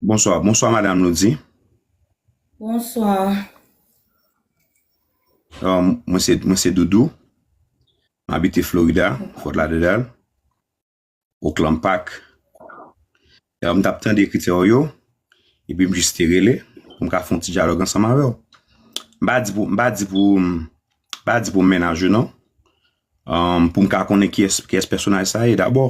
Bonswa bonswa madam lodi. Bonswa. Mwen se mwen se doudou m abite florida fort lauderdale oakland park m tap tande kritè w yo epi m jis te rele pou m ka fon ti dyalòg ansanm avèw m pa di pou m pa di pou m pa di pou m mennaj ou non pou m ka konnen kiyès kiyès pèsonaj sa ye dabò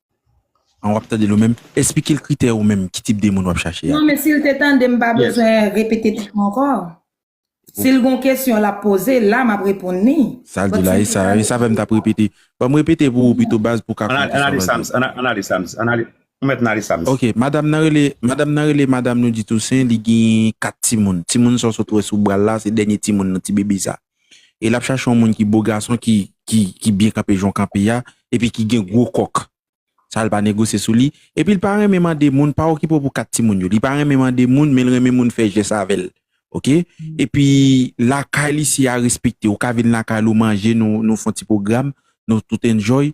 An wap tandel ou menm, esplikel kritè ou menm ki tip de moun wap chache a. Non men sil te tandem mpa bezwen repete tèt mwen ankò. Sil gon kesyon lap poze la map reponn li. Sal di la e sa, e sa fèm tap repete. Banm repete pou ou pito baz pou w ka konn kisa wap di. An ale Sams, an ale Sams, an ale, ou mèt nan ale Sams. Ok, madam nan rele, madam nan rele madam Noudy Toussaint li genyen 4 timoun. Timoun sa w sot wè sou bral la se dènye timoun nan, ti bebe sa. e lap chache yon moun ki bo gason ki ki byen kanpe jan w kanpe a epi ki gen gwo kòk sa l pa negosye sou li epi l pa renmen mande moun pa okipe w pou kat timoun yo li pa renmen mande moun men l renmen moun fè jès avè l ok epi lakay li si a respekte ou ka vin lakay l ou manje nou nou fon ti pwogram nou tout enjoy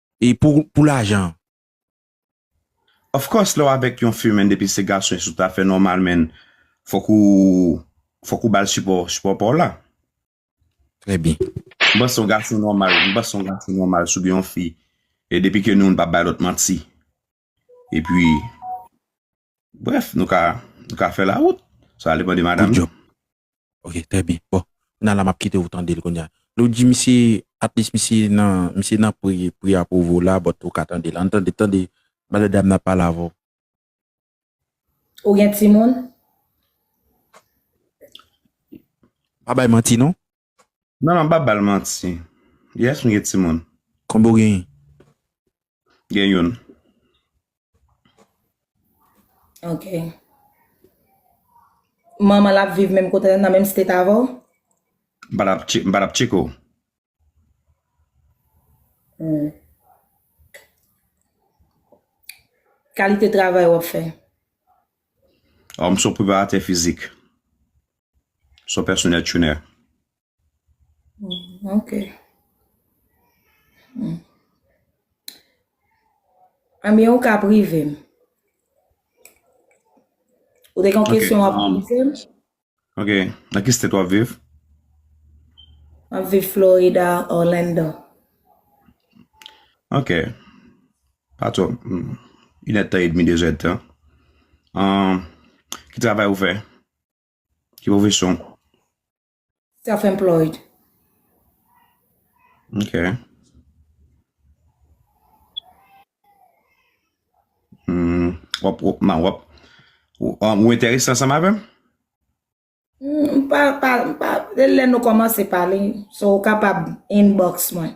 E pou lajan? Of course lè w avèk yon fi menn depi se gason e sou ta fè nòmal menn fòk ou fòk ou bal sipò sipò pa w la. Trè byen. M panse yon gason nòmal m panse yon gason nòmal si w gen yon fi e depi ke nou youn pa bay lòt manti E pi, bref, nou ka fè la wout. Sa ale pande madam. Good job. Ok, trè byen. Bon, nan la map kite ou tande l konye a. Nou di misye, at least misye nan, misye nan pri, pri a pou vou la, but ou ka tande l. An tande, tande, madan dam nan ap pale avè w. Ou gen timoun? Pa bay manti non. Non non pa bal manti. Yes m gen timoun. Konbe w genyen? Gen youn. Ok. Manman l ap viv menm kote nan menm state avè w? M pa tap tcheke w. Hum. Kalite travay w ap fè? Oh m son preparatè fizik. Son pèsonè tchounè. Hmm, ok. Hmm. Amye ou ka prive m. Ou te kon Ok, kesyon wap um, poze m? Ok, nan ki state wap viv? Map viv Florida, Orlando. Ok, pa twò, mm, inèd tan edmi, dezèd tan. Um, ki travay ou fè? Ki pwofesyon ou? Self employed. Ok. Hmm, wap, wap, ma wap. Ou, ou enterese ansanm avèm? Hmm, m pa, pa, m pa, lè nou komanse pale, so ou kapab inbox mwen.